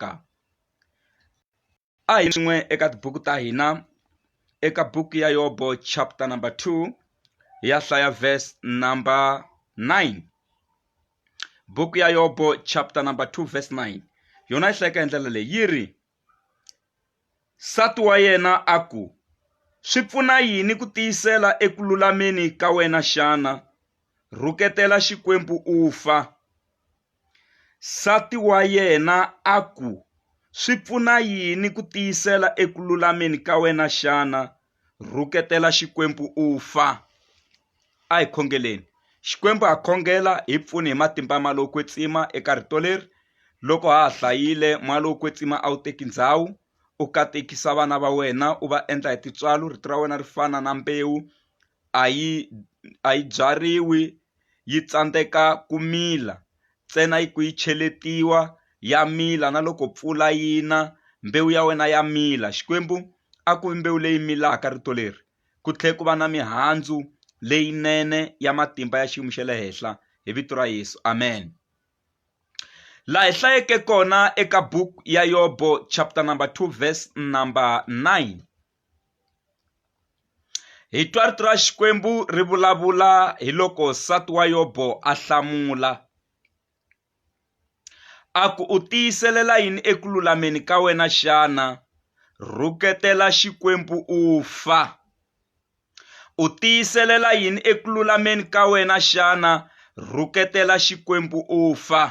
ka a hi swin'we eka tibuku ta hina eka buku ya yobo chapter number two hi ya hlaya verse number nine buku ya yobo chapter number two verse nine yona yi hlayeka hi ndlela leyi yi ri nsati wa yena a ku swi pfuna yini ku tiyisela eku lulameni ka wena xana rhuketela xikwembu u fa Nsati wa yena a ku, Swi pfuna yini ku tiyisela eku lulameni ka wena xana? Rhuketela Xikwembu u fa. A hi khongeleni. Xikwembu ha khongela, hi pfuni hi matimba ma lowo kwetsima eka rito leri. Loko ha ha hlayile, moya lowo kwetsima a wu teki ndhawu. U katekisa vana va wena, u va endla hi tintswalo, rito ra wena ri fana na mbewu, a yi a yi byariwi yi tsandzeka ku mila ntsena ku yi cheletiwa ya mila na loko mpfula yi na mbewu ya wena ya mila Xikwembu a ku vi mbewu leyi milaka rito leri ku tlhela ku va na mihandzu leyinene ya matimba ya xiyimo xa le henhla hi vito ra Yesu amen laha hi hlayeke kona eka buku ya yobo chapter number 2 verse number 9 Hi twa rito ra Xikwembu ri vulavula hi loko nsati wa Yobo a hlamula a ku u tiyiselela yini eku lulameni ka wena xana rhuketela Xikwembu u fa u tiyiselela yini eku lulameni ka wena xana rhuketela Xikwembu u fa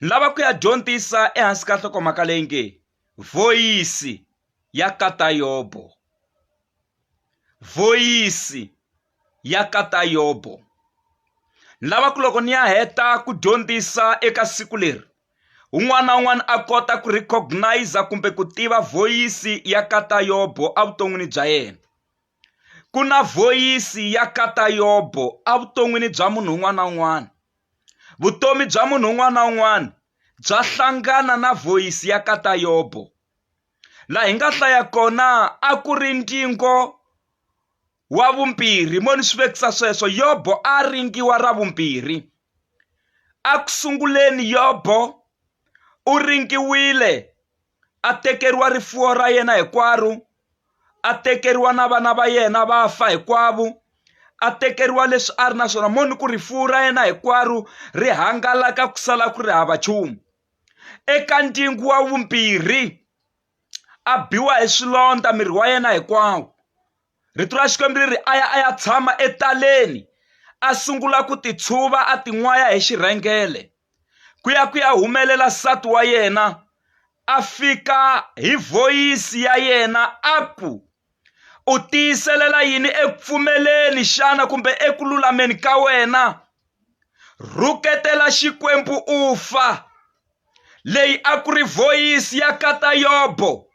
ni lava ku ya dyondzisa ehansi ka nhlokomhaka leyi nge vhoyisi ya katayobo vhoyisi ya katayobo ni lava ku loko ni ya heta ku dyondzisa eka siku leri un'wana na un'wana a kota ku recognize kumbe ku tiva vhoyisi ya katayobo evuton'wini bya yena Ku na vhoyisi ya kata yobo a vuton'wini bya munhu un'wana na un'wana. Vutomi bya munhu un'wana na un'wana bya hlangana na vhoyisi ya kata yobo. Laha hi nga hlaya kona a ku ri ndingo wa vumbirhi mo ni swi vekisa sweswo yobo a ringiwa ra vumbirhi a ku sunguleni yobo u ringiwile a tekeriwa rifuwo ra yena hinkwaro a tekeriwa na vana va yena va fa hinkwavo a tekeriwa leswi a ri na swona mo ni ku rifuwo ra yena hinkwaro ri hangalaka ku sala ku ri hava nchumu eka ndyangu wa vumbirhi a biwa hi swilondza miri wa yena hinkwawo rito ra xikwembu ri ri a ya a ya tshama etaleni a sungula ku titshuva a tin'waya hi xirhengele ku ya ku ya humelela nsati wa yena a fika hi voyisi ya yena a ku u tiyiselela yini eku pfumeleni xana kumbe eku lulameni ka wena rhuketela xikwembu u fa leyi a ku ri voyisi ya katayobo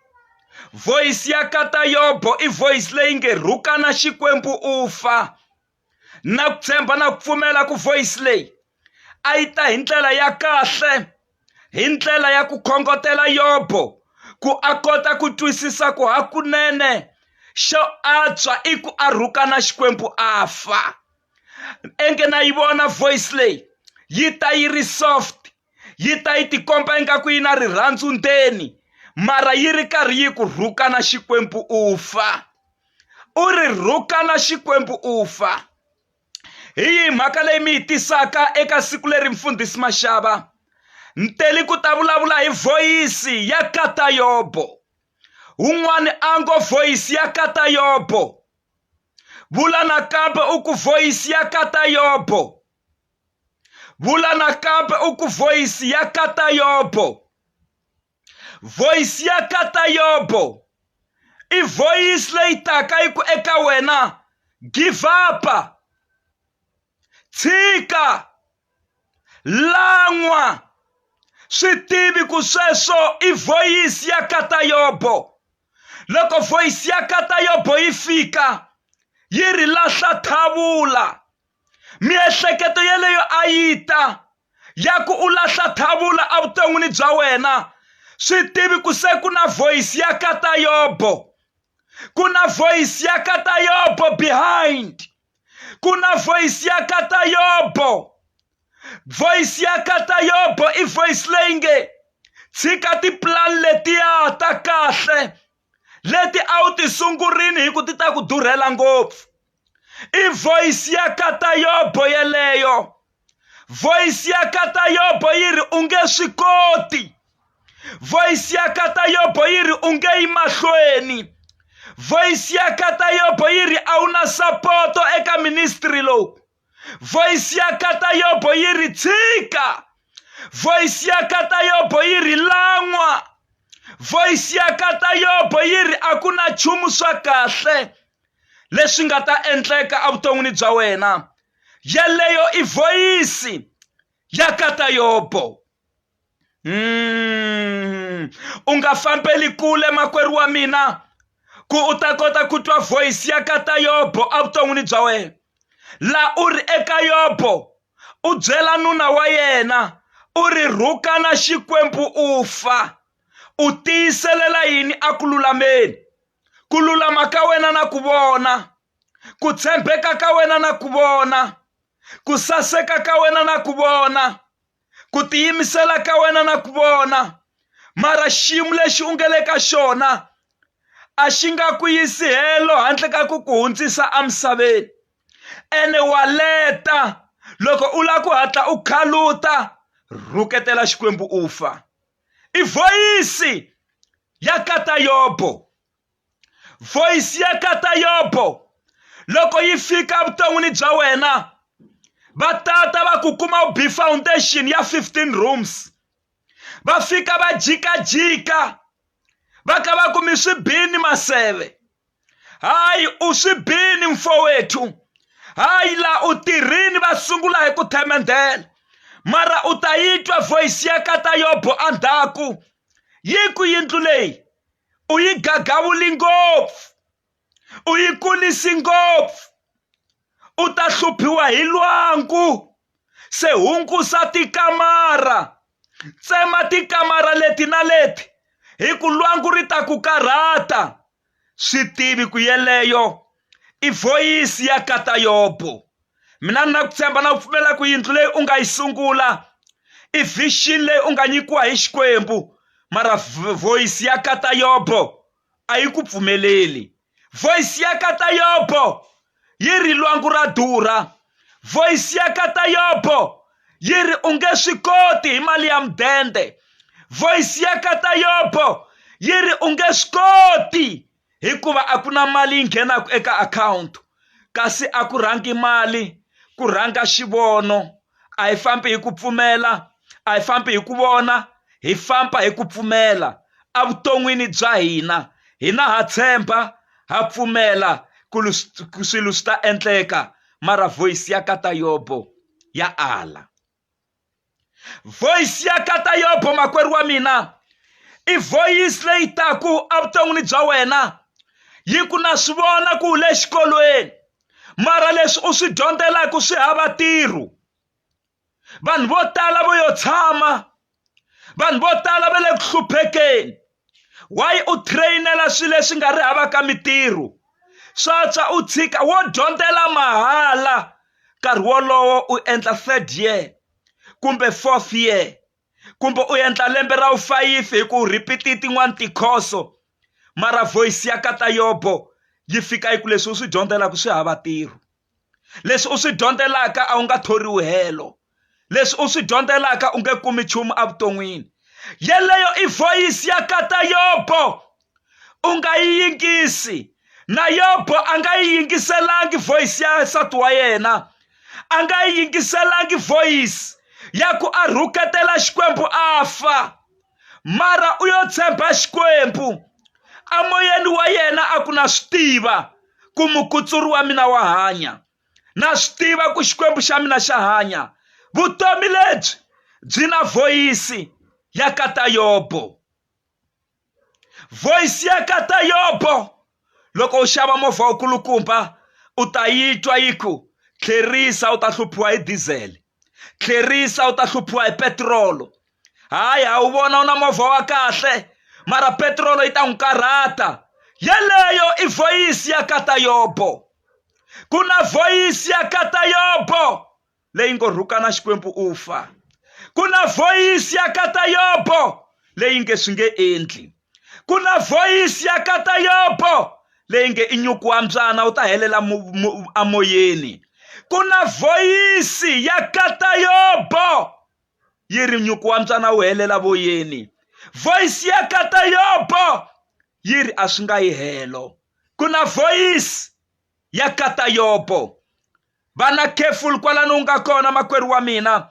voyisi ya katayobo i voyisi leyi nge rhukana xikwembu u fa na ku tshemba na ku pfumela ku voyisi leyi a yi ta hi ndlela ya kahle hi ndlela ya ku khongotela yobo ku a kota ku twisisa ku hakunene xo antswa i ku a rhukana xikwembu a fa enge na yi vona voice leyi yi ta yi ri soft yi ta yi tikomba ingaku yi na rirhandzu ndzeni mara yi ri karhi yi ku rhukana xikwembu u fa u ri rhukana xikwembu u fa hi yihi mhaka leyi mi yi tisaka eka siku leri mfundhisi maxava ni teli ku ta vulavula hi voyisi ya kata yobo un'wana a ngo voyisi ya kata yobo vula nakambe u ku voyisi ya kata yobo vula nakambe u ku voyisi ya kata yobo voyisi ya kata yobo i voyisi leyi taka yi ku eka wena give up tshika lan'wa swi tivi ku sweswo i voyisi ya kata yobo loko voyisi ya kata yobo yi fika yi ri lahla thavula miehleketo yeleyo a yi ta ya ku u lahla thavula evuton'wini bya wena swi tivi ku se ku na voyisi ya ka ta yobo ku na voyisi ya ka ta yobo behind ku na voyisi ya ka ta yobo voyisi ya ka ta yobo i voyisi leyi nge tshika tipulani letiya ta kahle leti a wu ti sungurini hi ku ti ta ku durhela ngopfu i voice ya katayobo yeleyo voice ya katayobo yi ri u nge swi koti voice ya katayobo yi ri u nge yi mahlweni voice ya katayobo yi ri a wu na sapoto eka ministry lowu voice ya kata yobo yi ri tshika voice ya kata yobo yi ri lan'wa voice ya kata yobo yi ri a ku na nchumu swa kahle leswi nga ta endleka evuton'wini bya wena yeleyo i voyisi ya kata yobo mm. u nga fambeli kule makwerhu wa mina ku u ta kota ku twa voyisi ya ka ta yobo evuton'wini bya wena laha u ri eka yobo u byela nuna wa yena u ri rhukana xikwembu u fa u tiyiselela yini a ku lulameni ku lulama ka wena na ku vona ku tshembeka ka wena na ku vona ku saseka ka wena na ku vona ku tiyimisela ka wena na ku vona mara xiyimo lexi u nge le ka xona a xi nga ku yisi helo handle ka ku ku hundzisa emisaveni ene wa leta loko u lava ku hatla u khaluta rhuketela xikwembu u fa i vhoyisi ya kata yobo voyisi ya kata yobo loko yi fika evuton'wini bya wena va tata va ku kuma u b foundation ya 15 rooms va fika va jikajika va ka va kumi swi bini maseve hayi u swi bini mfowethu hayi la u tirhini va sungula hi ku themendela mara u ta yi twa voyisi ya kata yobo endzhaku yi ku yindlu leyi u yi gagavuli ngopfu u yi kulisi ngopfu u ta hluphiwa hi lwangu se hungusa tikamara tsema tikamara leti na leti hi ku lwangu ri ta ku karhata swi tivi ku yeleyo i voyisi ya katayobo mina ni na ku tshemba na ku pfumela ku yindlu leyi u nga yi sungula i vision leyi u nga nyikiwa hi xikwembu mara voice ya kata yobo a yi ku pfumeleli voice ya kata yobo yi ri lwangu ra durha voice ya kata yobo yi ri u nge swi koti hi mali ya mudende voice ya kata yobo yi ri u nge swi koti hikuva a ku na mali yi nghenaka eka akhawunti kasi a ku rhangi mali ku rhanga xivono a hi fambi hi ku pfumela a hi fambi hi ku vona hi famba hi ku pfumela evuton'wini bya hina hina ha tshemba ha pfumela ku swilo swi ta endleka mara voice ya ka ta yobo ya ala. voice ya kata yobo makwerhu wa mina i voice leyi taku evuton'wini bya wena yi ku na swi vona ku le xikolweni mara leswi u swi dyondzelaka swi hava ntirho vanhu vo tala vo yo tshama vanhu vo tala va le ku hluphekeni wayi u trainela swilo leswi nga ri hava ka mitirho swatswa u tshika wo dyondzela mahala nkarhi wolowo u endla third year kumbe fourth year kumbe u endla lembe ra wufayifi hi ku repeat-i tin'wani tikhoso mara voice ya kata yobo yi fika yi ku leswi u swi dyondzelaka swi hava ntirho leswi u swi dyondzelaka a wu nga thoriwi helo leswi u swi dyondzelaka u nge kumi nchumu evuton'wini yeleyo i voyisi ya kata yobo u nga yi yingisi na yobo a nga yi yingiselangi voyisi ya nsati wa yena a nga yi yingiselangi voyisi ya ku a rhuketela xikwembu a fa mara u yo tshemba xikwembu amoyeni wa yena a ku na swi tiva ku mukutsuri wa mina wa hanya na swi tiva ku xikwembu xa mina xa hanya vutomi lebyi byi na voyisi ya ka ta yobo voyisi ya ka ta yobo loko u xava movha wu kulukumba u ta yi twa yi ku tlherisa u ta hluphiwa hi diesel tlherisa u ta hluphiwa hi petirolo hayi ha wu vona u na movha wa kahle mara petirolo yi ta n'wi karhata yeleyo i voyisi ya katayobo ku na voyisi ya katayobo leyi ngo rhukana xikwembu u fa ku na voyisi ya katayobo leyi nge swi nge endli ku na voyisi ya kata yobo leyi nge i nyuku wa mbyana u ta helela amoyeni ku na voyisi ya kata yobo yi ri nyuku wa mbyana wu helela voyeni voyisi ya kata yobo yi ri a swi nga yi helo ku na voyisi ya kata yobo vana careful kwalano u nga kona makwerhu wa mina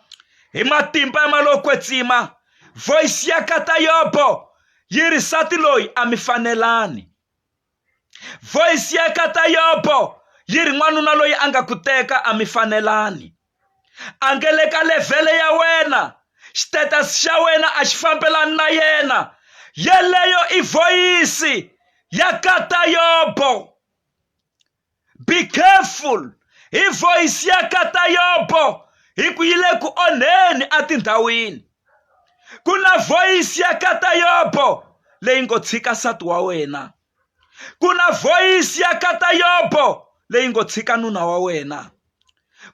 hi matimba ya malokwetsima voice ya katayobo yi ri sati loyi a mi fanelani voice ya katayobo yi ri n'wanuna loyi a nga ku teka a mi fanelani a nge le ka levhele ya wena xitatus xa wena a xi fambelani na yena yeleyo i voyisi ya katayobo Be careful hi voice ya kata yobo hi ku yi le ku onheni etindhawini ku na voice ya kata yobo leyi ngo tshika nsati wa wena ku na voice ya kata yobo leyi ngo tshika nuna wa wena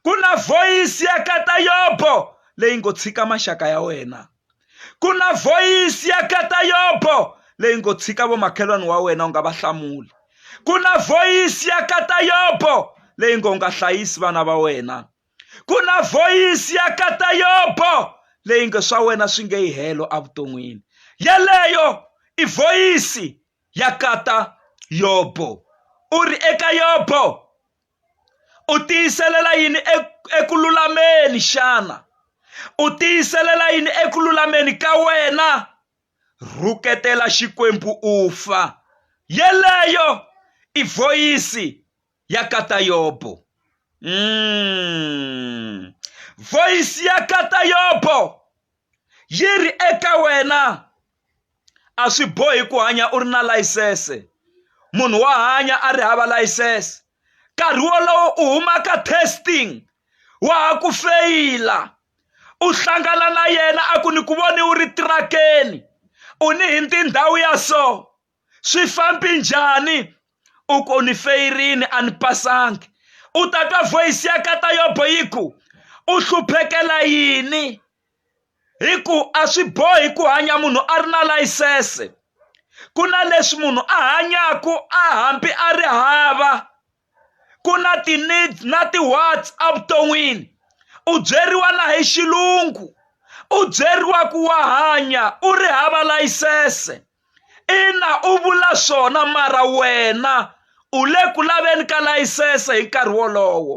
ku na voyisi ya kata yobo leyi ngo tshika maxaka ya wena ku na voyisi ya kata yobo leyi ngo tshika vomakhelwani wa wena u nga va hlamuli ku na voyisi ya kata yobo leyi ngo nga hlayisi vana va wena ku na voyisi ya kata yobo leyi nge swa wena swi nge yi helo evuton'wini yeleyo i voyisi ya kata yobo u ri eka yobo u tiyiselela yini eku lulameni xana u tiyiselela yini eku lulameni ka wena rhuketela xikwembu u fa yeleyo i voyisi ya katayobo mm. voyisi ya katayobo yi ri eka wena a swi bohi ku hanya u ri na layisense munhu wa hanya a ri hava layisense nkarhi wolowo u huma ka testing wa ha ku feyila u hlangana na yena a ku ni ku voni u ri tirakeni u ni hi ndzi ndhawu ya so swi fambi njhani u ku ni feyirini a ni pasangi u ta twa voyisi ya kata yobo yi ku u hluphekela yini hi ku a swi bohi ku hanya munhu a ri na layisense ku na leswi munhu a hanyaku a hambi a ri hava ku na ti-need na ti-wants evuton'wini u byeriwa na hi xilungu u byeriwa ku wa hanya u ri hava layisense ina u vula swona mara wena u le ku laveni ka layisense hi nkarhi wolowo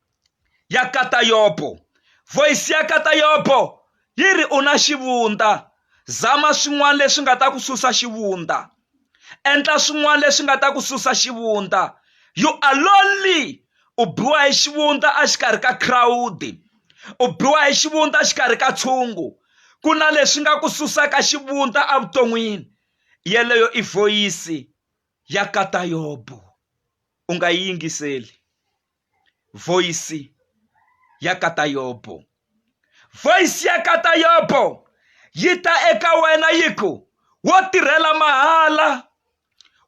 ya katayopo. Voyisi ya katayopo yi ri, U na xivundza. Zama swin'wana leswi nga ta ku susa xivundza. Endla swin'wana leswi nga ta ku susa xivundza. You are lonely. U biwa hi xivundza exikarhi ka khirawudi. U biwa hi xivundza exikarhi ka tshungu. Ku na leswi nga ku susaka xivundza evuton'wini. Yeleyo i voyisi ya katayopo. U nga yi yingiseli. voisi ya katayopo voisi ya katayopo yi ta eka wena yi ku wo tirhela mahala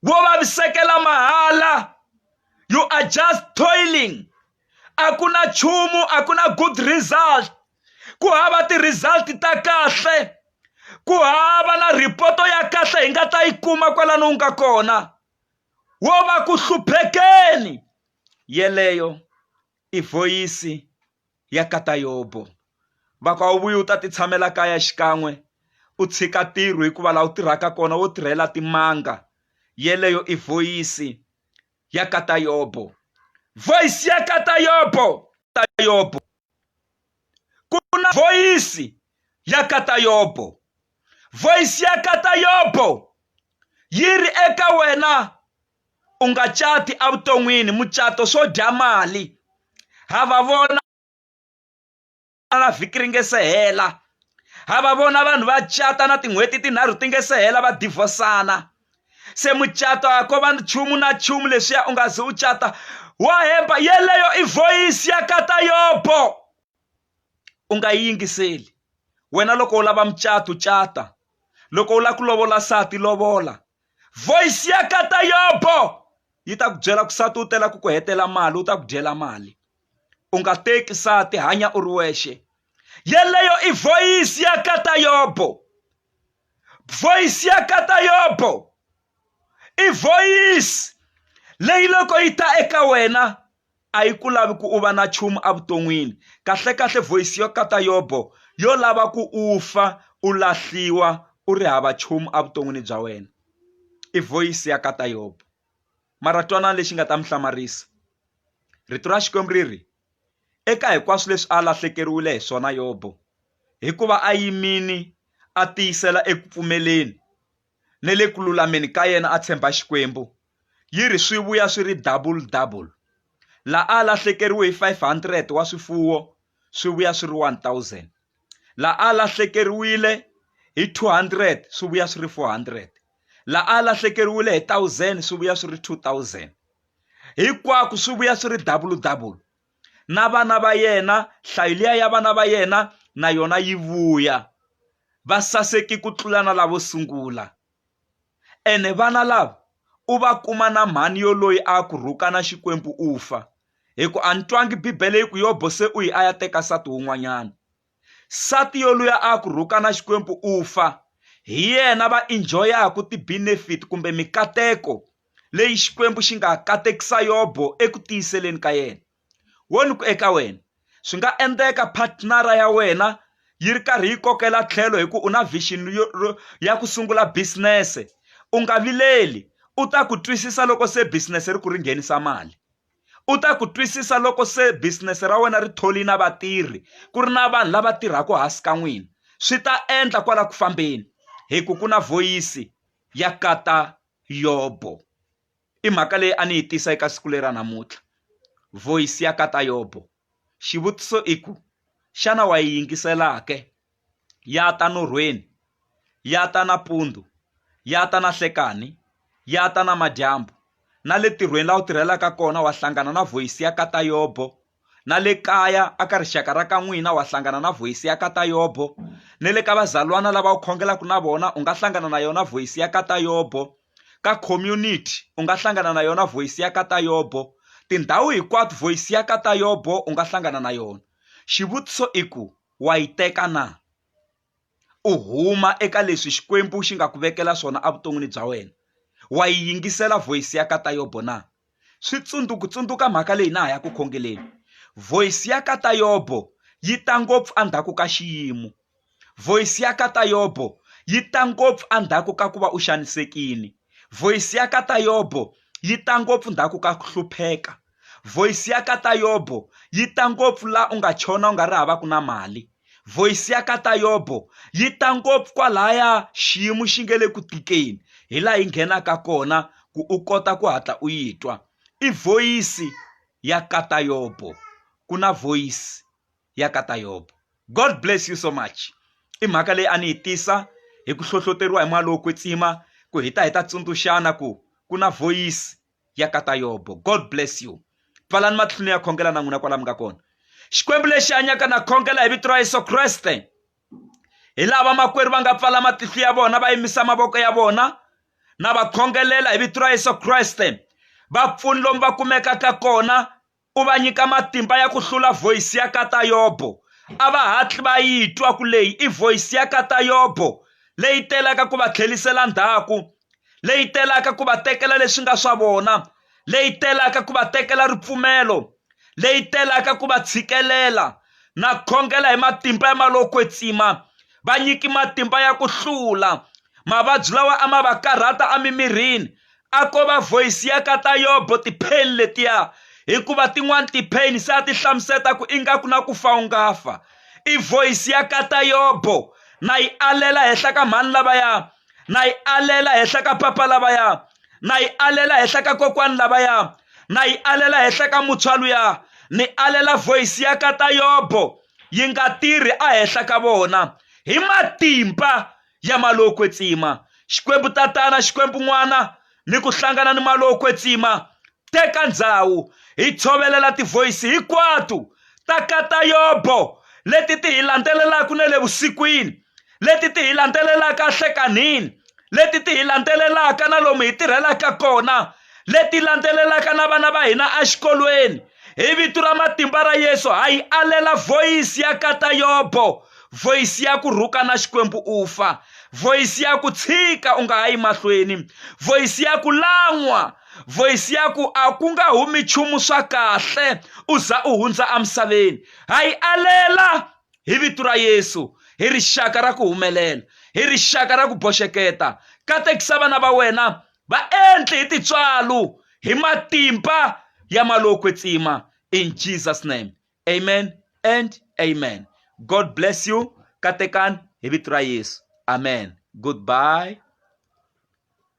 wo vavisekela mahala you are just toiling a ku na nchumu a ku na good result ku hava ti-result ta kahle ku hava na ripoto ya kahle hi nga ta yi kuma kwalano u nga kona wo va ku hluphekeni yeleyo i voyisi ya kata yobo vaka wu vuye u ta ti tshamela kaya xikan'we u tshika ntirho hikuva laha u tirhaka kona wo tirhela timanga yeleyo i voyisi ya kata yobo voyisi ya kata yobo ta yobo ku na voyisi ya kata yobo voice ya kata yobo yi ri eka wena u nga cati evuton'wini mucato swo dya mali ha va vona na vhiki ri nge se hela ha va vona vanhu va cata na tin'hweti tinharhu ti nge se hela va divhosana se mucato a ko va nchumu na nchumu leswiya u nga ze u cata wa hemba yeleyo i voyisi ya kata yobo u nga yi yingiseli wena loko u lava mucato cata loko u lava ku lovola nsati lovola voice ya ka ta yobo yi ta ku byela ku nsati u tela ku ku hetela mali u ta ku dyela mali u nga teki nsati hanya u ri wexe yeleyo i voice ya ka ta yobo voice ya ka ta yobo i voice leyi loko yi ta eka wena a yi ku lavi ku u va na nchumu evuton'wini kahlekahle voyisi yo kata yobo yo lava ku u fa u lahliwa u ri hava nchumu evuton'wini bya wena i voyisi ya kata yobo mara twanana lexi nga ta mi hlamarisa rito ra xikwembu ri ri eka hinkwaswo leswi a lahlekeriwile hi swona yobo hikuva a yimini a tiyisela eku pfumeleni ni le ku lulameni ka yena a tshemba Xikwembu, yi ri swi vuya swi ri double-double. La a lahlekeriwe hi 500 wa swifuwo, swi vuya swi ri 1,000. La a lahlekeriwile hi 200, swi vuya swi ri 400. La a lahlekeriwile hi 1,000, swi vuya swi ri 2,000. Hinkwaku swi vuya swi ri double-double, na vana va yena hlayo liya ya vana va yena na yona yi vuya va saseki ku tlula na lavo sungula ene vana lava u va kuma na mhani yo loyi a ku rhuka na xikwembu u fa hi ku a ni twangi bibele yi ku yobo se u yi a ya teka nsati wun'wanyana Nsati yoluya a a ku rhukana Xikwembu u fa, hi yena va injoyaku ti-benefit kumbe mikateko leyi Xikwembu xi nga katekisa Yobo eku tiyiseleni ka yena. Wo ni ku eka wena, swi nga endeka patnara ya wena yi ri karhi yi kokela tlhelo hi ku u na vision ya ku sungula bisinese. U nga vileli, u ta ku twisisa loko se bisinese ri ku ri nghenisa mali. U ta ku twisisa loko se business ra wena ri thole na vatirhi ku ri na vanhu lava tirhaka hansi ka n'wina swi ta endla kwala ku fambeni hi ku ku na voyisi ya kata yobo i mhaka leyi a ni yi tisa eka siku lera namuntlha voyisi ya kata yobo Xivutiso i ku, xana wa yi yingisela ke? Ya ta norhweni, ya ta nampundzu, ya ta nanhlekani, ya ta namadyambu, na le ntirhweni laha u tirhelaka kona wa hlangana na vhoyisi ya ka Tayobho, na le kaya aka rixaka ra ka n'wina wa hlangana na vhoyisi ya ka Tayobho, ni le ka vazalwana lava u khongelaka na vona u nga hlangana na yona vhoyisi ya ka Tayobho. Ka community u nga hlangana na yona voice ya ka Tayobo tindhawu hinkwato voice ya ka Tayobo u nga hlangana na yona xivutiso i ku wa yi teka na u huma eka leswi Xikwembu xi nga ku vekela swona evuton'wini bya wena wa yi yingisela voice ya ka Tayobo na. swi tsundzuku tsundzuka mhaka leyi na ha ya ku khongeleni voice ya ka ta yobo yi ta ngopfu endzhaku ka xiyimo voice ya ka ta yobo yi ta ngopfu endzhaku ka ku va u xanisekile voice ya ka ta yobo yi ta ngopfu ndzhaku ka ku hlupheka voice ya ka ta yobo yi ta ngopfu laha u nga chona u nga ri havaku na mali Voice ya ka Tayobo yi ta ngopfu kwalaya xiyimo xi nge le ku tikeni hi laha yi nghenaka kona ku u kota ku hatla u yi twa i voice ya ka Tayobo ku na voice ya ka Tayobo God bless you so much i mhaka leyi a ni yi tisa hi ku hlohloteriwa hi moya lowo kwetsima ku hi ta hi ta tsundzuxana ku ku na voice yakata yobo god bless you pfalani matlhunu ya khongela na n'wina kwala mi nga kona xikwembu lexi hanyaka na khongela hi vito ra yesu kreste hi lava makwerhu va nga pfala matihlo ya vona va yimisa mavoko ya vona na va khongelela hi vito ra yesu kreste vapfuni lomu va kumekaka kona u va nyika matimba ya ku hlula voyisi ya kata yobo a va hatli va yi twa ku leyi i voyisi ya kata yobo leyi telaka ku va tlhelisela ndhaku leyi telaka ku va tekela leswi nga swa vona leyi telaka ku va tekela ripfumelo leyi telaka ku va tshikelela na khongela hi matimba ya malokwetsima va nyiki matimba ya ku hlula mavabyi lawa a ma va karhata emimirini a ko va voice ya ka ta yobo ti-pain letiya hikuva tin'wani ti-pain se a ti hlamuseta ku ingaku na ku fa u nga fa i voice ya ka ta yobo na yi alela henhla ka mhani lavaya na yi alela henhla ka papa lavaya na yi alela henhla ka kokwani lavaya na yi alela henhla ka muntshwa luya ni alela voice ya ka ta yobo yi nga tirhi ehenhla ka vona hi matimba ya Malokwetsima, Xikwembu Tatana, Xikwembu N'wana, ni ku hlangana ni Malokwetsima, teka ndzhawu, hi tshovelela tivoyisi hikwatu ta ka ta Yobo leti ti hi landzelelaku ne le vusikwini, leti ti hi landzelelaka ahlekanhini, leti ti hi landzelelaka na lomu hi tirhelaka kona, leti landzelelaka na vana va hina exikolweni hi vito ra matimba ra yesu ha yi alela voyisi ya kata yobo voyisi ya ku rhuka na xikwembu u fa voyisi ya ku tshika u nga ha yi mahlweni voyisi ya ku lan'wa voyisi ya ku a ku nga humi nchumu swa kahle u za u hundza emisaveni ha yi alela hi vito ra yesu hi rixaka ra ku humelela hi rixaka ra ku boxeketa katekisa vana va wena Va endli hi tintswalo hi matimba ya malokwe tsima in jesus name amen and amen god bless you katekani hi vito ra yesu amen goodbye